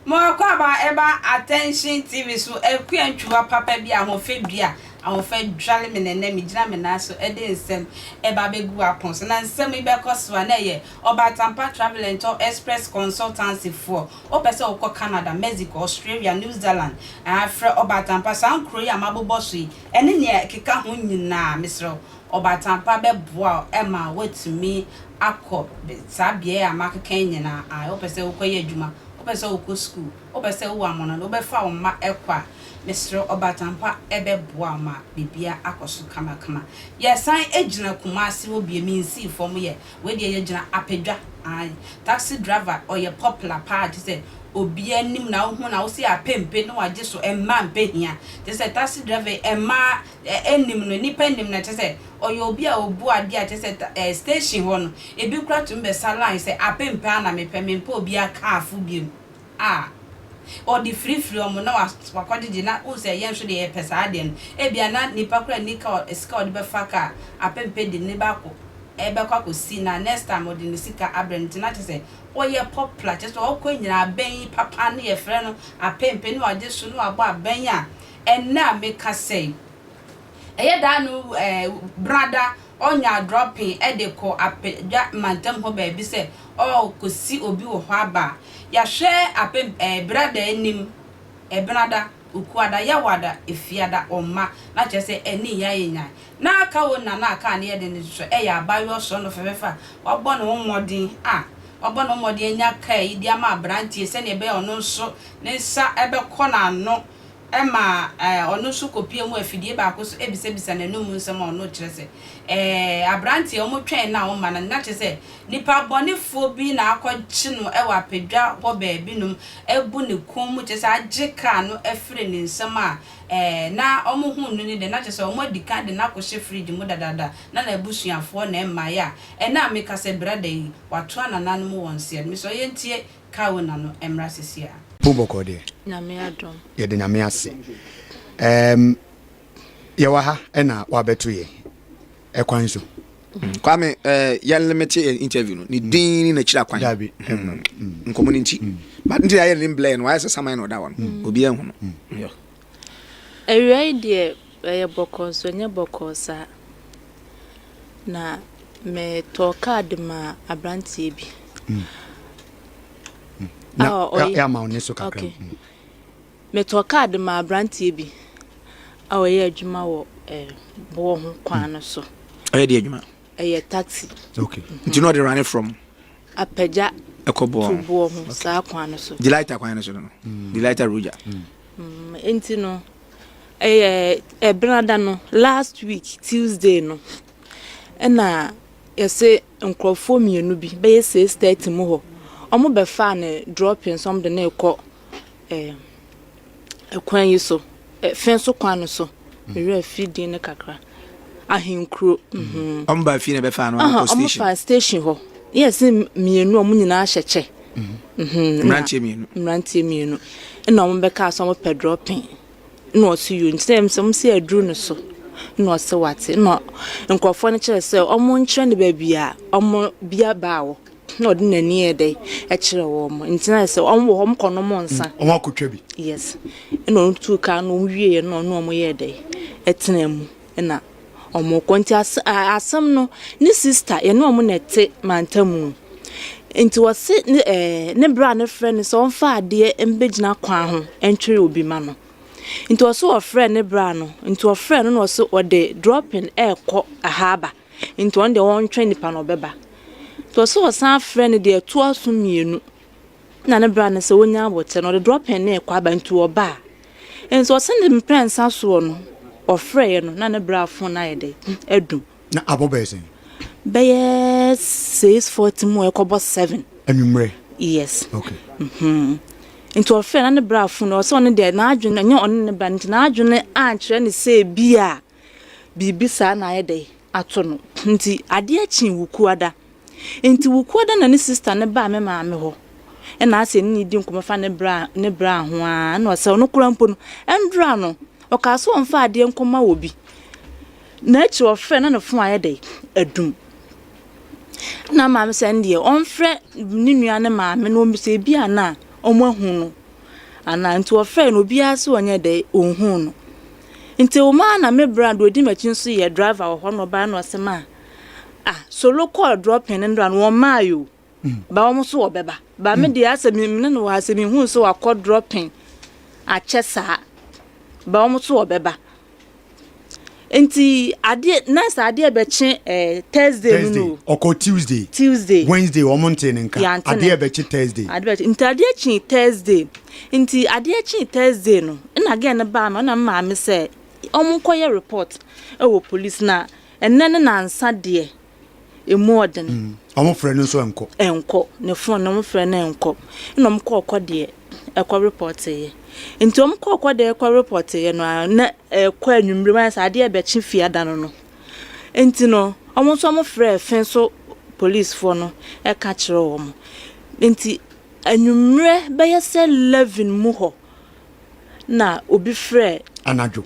Moakwaaba ɛba Attention TV so akua ntwiwa papa bi ahoɔfɛ dua ahoɔfɛ dware me nɛnɛ me gyina me nan so ɛde nsɛm ɛba bɛgu apon so na nsɛm yi bɛkɔ so a na ɛyɛ Ɔbatampa Travel and Tour Express Consultancy foɔ Wopɛ sɛ wokɔ Canada, Mexico, Australia, New Zealand a, frɛ Ɔbaatanpa. Saa nkuro yi a mabobɔ so yi ɛne nea ɛkeka ho nyinaa, mesrɛ wo, Ɔbaatanpa bɛboa wo ma woatumi akɔ saa beaɛ a makeka yi nyinaa. Ae, wopɛ sɛ wokɔyɛ adwuma, wopɛ sɛ wokɔ sukuu, wopɛ sɛ wowo amono, wobɛfa wo mma kɔ a, mesrɛ wo, Ɔbaatanpa bɛboa wo ma biribiara akɔ so kamakama. Yɛsan gyina Kumasi hɔ bio, mensii fam, yɛ. Wei deɛ yɛgyina apadwa ae. Taxi driver ɔyɛ popular paa gyesɛ obiaa nim na wohu na wose apɛ mpe ne wagye so mmaa mpɛ hia gyesɛ taxi driver yi mmaa nnim no nnipa nnim no kyesɛ ɔyɛ obi a obu adeɛ a kyesɛ station hɔ no ebi koraa tumi bɛsa line sɛ apɛ mpe ara na mepɛ mempɛ obiaa car fo biom a, ɔde firifiri wɔn na wakɔgyegye na wohu sɛ yɛn nso deɛ yɛpɛ saa adeɛ no. Ebia na nipa koraa nni ka sika a ɔde bɛfa ka apempe de ne baako bɛkɔ akɔsi na next time ɔde ne sika abrɛ no nti na kyerɛ sɛ ɔyɛ popular kyerɛ sɛ ɔkɔ nyina abɛn papa no yɛfrɛ no apempe na wagye so na wabɔ abɛn a ɛnnɛ a meka sɛ yi ɛyɛ daa no ɛɛ brada Ɔnya adorɔ pee de kɔ apadwa mantam hɔ baabi sɛ ɔrekɔsi obi wɔ hɔ aba a, yɛahwɛ apem ɛɛ Berada anim, Ɛbenada, Okuada, Yawada, Efiada, Ɔmma, na kyerɛ sɛ ɛne Nyan yɛ Nyan. Na aka wɔn nyinaa na aka a na ɛyɛ den nso ɛyɛ abaayewa ɔsɔɔnɔ fɛfɛɛfɛ a wabɔ ne ho mmɔden a wabɔ ne ho mmɔden anya kaa yi de ama aberanteɛ sɛdeɛ ɛbɛyɛ a ɔno nso ne nsa bɛkɔ n'ano Ɛma ɔno nso kɔpia mu afidie baako so bisabisa n'anom mu nsɛm a ɔno rekyerɛ sɛ, Ɛɛ, aberanteɛ, wɔtwɛn no a womma no nnɛ? Na kyerɛ sɛ, nipa bɔnefoɔ bi na akɔgye no wɔ apadwa hɔ baabinom abu ne kɔn mu, kyerɛ sɛ, agye kaa no afiri ne nsam a, ɛɛ, na wɔhuu no no deɛ, na kyerɛ sɛ, wɔadi kan de no akɔhyɛ fridge mu dadaada, na n'abusuafoɔ na ɛmmaeɛ a, ɛnnɛ a mekasa yi, brada yi, watoa nananom wɔn seɛ no. Mesɛ ɔyɛ ntie Ka wo na no mmra sesi a. Wo bɔkɔɔ deɛ. Nyame adom. Yɛda Nyame ase. Ɛɛm yɛwɔ ha ɛna wabɛto yɛn. Ɛkwan so. Kwame eh, yɛ limit yɛ interview no ne din ne n'akyiri akwan Dabi. Mm, nkɔmmɔ no nti but nti na yɛ ne blur no wayɛ sɛ saman na ɔda hɔ no obiara nhu no Awia yi deɛ ɛyɛ bɔkɔɔ nso ɛnyɛ bɔkɔɔ saa. Na metɔɔ kaa de maa aberanteɛ bi. Mm. Na ɔyɛ ama ne so kakra. Okay. Mm. Metɔɔ kaa de maa aberanteɛ bi a ɔyɛ adwuma wɔ eh, boɔ ho kwan no so. Ɔyɛ deɛ adwuma? Ɛyɛ taxi. Okay. Mm -hmm. Nti na ɔde rane from? Apagya ɛkɔ boɔ ho. Boɔ ho saa kwan no so. Delighter kwan no so no. Mm. Delighter Roger. Mm. Nti no, ɛyɛ ɛbenada no, last week Tuesday no, ɛna yɛse nkorɔfoɔ mmienu bi bɛyɛ six thirty mu hɔ, wɔn bɛfaa no dropping so, wɔn de no rekɔ ɛɛ ɛkwan yi so, ɛfɛn so kwan no so, me werɛ fi din no kakra. ahenkuro. Mhm. Wɔn baa fie na ɛbɛfa ano akɔ station. Wɔn faa station hɔ. Yes, mmienu wɔn nyinaa hyɛ kyɛ. Mhm. mhm. Mmeranteɛ mmienu. Mmeranteɛ mmienu. Ɛna wɔn bɛka so wɔn pɛ dropping. Na ɔsi yio nti sɛ sɛ wɔn si aduru no so. Na ɔsi wate. Na nkurɔfoɔ no kyerɛ sɛ wɔn nkyerɛ ne baabi a wɔn bia baa wɔ. Na ɔde n'ani yɛ dɛ ɛkyerɛ wɔn nti na sɛ wɔn wɔ hɔ wɔn kɔ nom nsa. Wɔn akotwa bi. Yes ɛna wɔn tu kaa na wɔn wie yɛ na ɔne wɔn yɛ dɛ ɛtena mu ɛna wɔn kɔ nti as asɛm no ne sista yɛne wɔn na ɛte mantamu nti wɔsi ne ɛɛ ne bra ne frɛ no sɛ ɔnfa adeɛ mbɛgyina kwan ho ɛntwere obi ma no nti ɔsi ɔfrɛ ne bra no nti ɔfrɛ no na ɔsi ɔde drɔpin ɛɛkɔ ahaaba. nti ɔno deɛ ɔntwɛn nipa na ɔbɛba nti ɔsɛ ɔsan frɛ no deɛ ɛtoa so mmienu na ne bra no sɛ ɔnya abɔtɛ no ɔde drop in na ɛkɔ aba nti ɔba a nti ɔsɛ ne mprɛnsa soɔ no ɔfrɛɛ no na ne bra fon no ayɛ dɛ ɛdum. na abɔ bɛyɛ sɛn? bɛyɛ six forty mu a ɛkɔbɔ seven. anwummerɛ. yes okay. Mm -hmm. nti ɔfrɛ na ne bra fo no ɔsɛ ɔno deɛ n'adwene ɛnyɛ ɔne ne ba no nti n'adwene ankyerɛ ne sɛ bi a Biribi saa na ayɛ dɛn ato no. Nti adeɛ kyee Wukuada. Nti Wukuada na ne sista no baa me maame hɔ. Ɛna ase ɛne no di nkɔmmɔ fa ne bra ne braa ho ara. Ɛna ɔsɛ ɔno koraa mpo no, ɛndra no. Ɔkaa sɛ ɔmfa adeɛ nkɔma obi. Na akyire ɔfrɛ na ne fon ayɛ dɛn adum. Ɛna maame sɛ ɛndeɛ ɔmfrɛ ne nua no maame na ɔmmisa ebi a na wɔahu no anaa nti wɔfrɛɛ no obiara sɛ ɔnyɛ dɛ ɔnhuu no nti wo maa na me bra deɛ ɔdi m'akyi nso yɛ driver wɔ hɔ na ɔbaa na ɔsɛ maa ah solo kɔɔ dropping no ndra no wɔn maa yɛ o ba wɔn nso wɔbɛba ba me deɛ asɛ me ne no wɔ asɛ me hu nso wakɔ dropping akyɛ saa ba wɔn nso wɔbɛba Nti adeɛ na sɛ adeɛ bɛkye ɛɛ Thursday no Thursday, no ɔkɔ Tuesday, Tuesday Wednesday wɔn ntee ne nka, yɛante ne adeɛ bɛkye Thursday. adeɛ bɛkye nti adeɛ kyee Thursday nti adeɛ kyee Thursday no ɛna gɛɛ no baa no ɛna me maame sɛ wɔn nkɔyɛ report ɛwɔ police na ɛnɛ ne nansa deɛ emu ɔden. Mm. Ɔmo frɛ no nso ɛnkɔ. Ɛnkɔ. Ne fon na ɔmo frɛ no ɛnkɔ. Ɛna ɔmo kɔɔ kɔ deɛ ɛkɔ repɔteeɛ. Nti ɔmo kɔɔ kɔ deɛ ɛkɔ repɔteeɛ no a na ɛkɔ anwummere mu ayɛ sɛ adeɛ ɛbɛkye fia da no no. Nti no ɔmo nso ɔmo frɛɛ fɛn so polisifoɔ no ɛka kyerɛ ɔmo. Nti anwummere bɛyɛ sɛ 11 mu hɔ na obi frɛɛ anadwo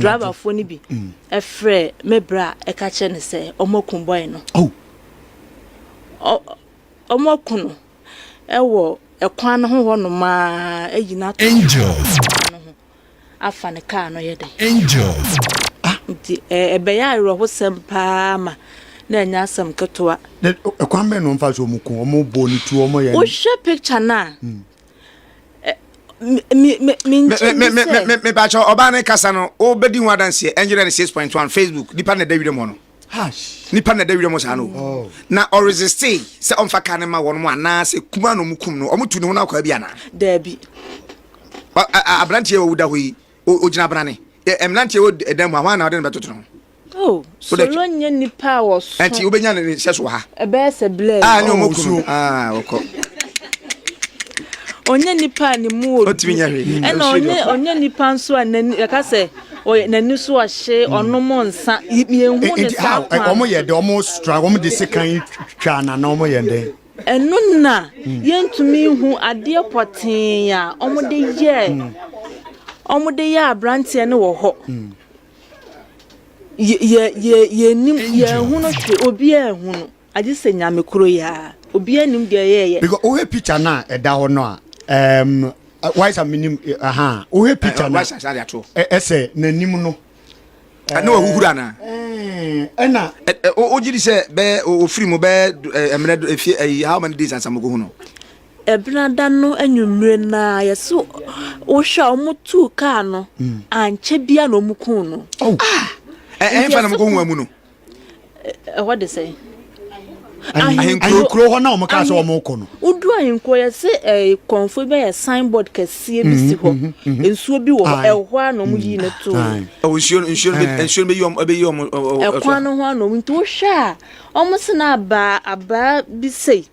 driverfoɔ no bi mm. frɛɛ me berɛ a ɛka kyerɛ no sɛ ɔmaku bɔe no oh. ɔmaku no ɛwɔ ɛkwan no ho hɔ nomaa ayi no ato no ho afa ne kaa no yɛ dɛ ah. nti ɛbɛyɛ awerɛhosɛm paa ma na ɛnyɛ asɛm ketewa ɛkwan bɛn na ɔmfa sɛ ɔmu ku ɔmu bɔ ne tu ɔmu yɛ wohwɛ picture no a mm. mebakyɛ ɔbaa ne kasa no wobɛdi ho adanseɛ ɛngyerɛ ne 6.1 facebook nipa na ɛda werɛm hɔ no nipa na ɛda werɛm hɔ saa no oh. na ɔresiste sɛ ɔmfa ka ne ma wɔn mu anaasɛ kuma na ɔmu kum no ɔmotu ne ho no akwaa bi anaa daabi aberanteɛ ɔwuda hɔ yi ɔgyina brane mmeranteɛ wɔ dan mu a hɔ ana ɔde no bɛtoto no ho Oh, solo nyɛ nipa a wɔso. Ɛnti wobɛnya ne nhyɛ so wɔ ha. Ɛbɛyɛ sɛ blɛ. Ah, ne ɔmo kunu. Ah, wɔkɔ. Ɔnyɛ nipa a ne mu odu. Ɔtumi nyɛ hwee. Ɛna ɔnyɛ ɔnyɛ nipa nso a n'ani yɛka sɛ ɔyɛ n'ani so ɔhye hmm. ɔnom nsa yɛhu ne eh, eh, saa kwan. Ɛnti ɔmo yɛ dɛ ɔmo stra ɔmo de sekan twa anana ɔmo yɛ dɛ. Ɛno na hmm. yɛntumi hu adeɛ pɔtee a ɔmo de yɛ hmm. ɔmo de yɛ aberanteɛ no wɔ hɔ. Yɛ, yɛ, yɛnnim, yɛnhunu hwee, obiara nhunu, agye sɛ Nyame koro yi ara, obiara nnim deɛ ɔyɛɛyɛ. Because wohwɛ picture no a ɛda hɔ no a, um, waisa menim, aha, wohwɛ picture no a, ɛsɛ n'anim no. Ɛna wahuhuru anaa? Ɛna. Wogye di sɛ bɛyɛ, ofiri mu bɛyɛ mmerɛ, efie, how many days ansa mokɔhu no? Ɛbenada no anwummere no ara, yɛse wohwɛ a, wɔtuu kaa no, ankyɛ biara na wɔkuu no. Ɛhefa na mokɔhu amu no? Ɛhɔ de sɛn? ahenkuro hɔ na wɔn kaa sɛ wɔn kɔ no. wodu ahenkuro yɛ sɛ ɛɛ kɔnfo bɛ yɛ signboard kɛseɛ bi si hɔ nsuo bi wɔ hɔ ɛhɔ a na wɔn yi ne to. ɛwɔ nsuo nsuo nsuo bɛ yi wɔn bɛ yi wɔn. ɛkwan no ho a na wɔn nti wohwɛ a wɔn sena abaa abaa bi sɛyi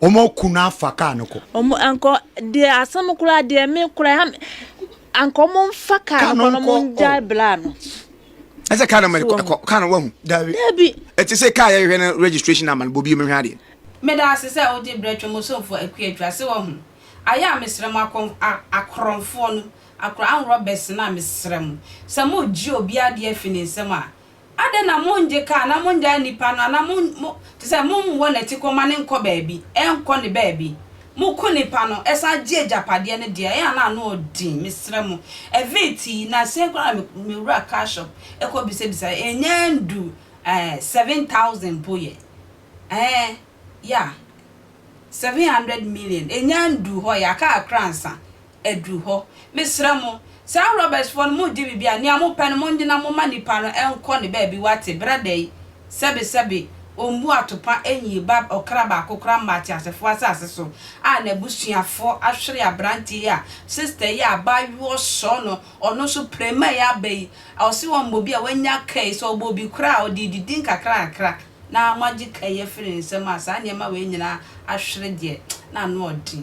Wɔn aku no afa kaa no kɔ. Wɔn anka deɛ asɛm koraa deɛ me koraa ha anka wɔn mfa kaa no kɔ na wɔn gya bla no. Ɛsɛ kaa no mɛ kɔ kaa no wahu. Dabi. Dabi. Ɛte sɛ kaa yɛhwɛ no registration ama no bobi mehwɛ adeɛ. Meda ase sɛ wode brɛ Twam Osomfoɔ Akua Adwira sɛ wahu. Ayɛ a mesrɛ mo akɔ akorɔmfoɔ no akora anworɔ bɛsena a mesrɛ mo sɛ moregye obi adeɛ afi ne nsam a Adɛn na mongye kaa na mongyaa nnipa no anaa mo, mo, te sɛ mommɔ n'atikɔ ma ne nkɔ baabi, ɛnkɔ ne baabi? Moko nnipa no, ɛsan gye agyapadeɛ no deɛ, ɛyɛ a na ano ɔden, mesrɛ mo. Ɛfee tii, na sɛn koraa na me, mewura car shop kɔ bisabisa, ɛnyɛ ndu ɛɛ seven thousand mpo yɛ, ɛɛ, yeah, seven hundred million, ɛnyɛ ndu hɔ yɛ, aka akra ansa, aduru hɔ. Mesrɛ mo, saa Robertsfoɔ no, moredi biribi a, nea mopɛ no monyɛ na momma nipa no nkɔ ne baabi wate, brada yi, sɛbe sɛbe, ɔmmu atopa nyii ba ɔkra baako koraa mma ateasefoɔ asase so, a n'abusuafoɔ ahwere aberanteɛ yi a sister yi a abaayewa ɔsɔɔ no, ɔno nso prɛmɛ yi aba yi, ɔse wɔmmɔ bi a wanya ka yi, sɛ ɔbɔ obi koraa a, ɔde redidi nkakrakakra, na moagye ka yi afiri ne nsam a, saa nneɛma wei nyinaa ahwere deɛ, na ano ɔden.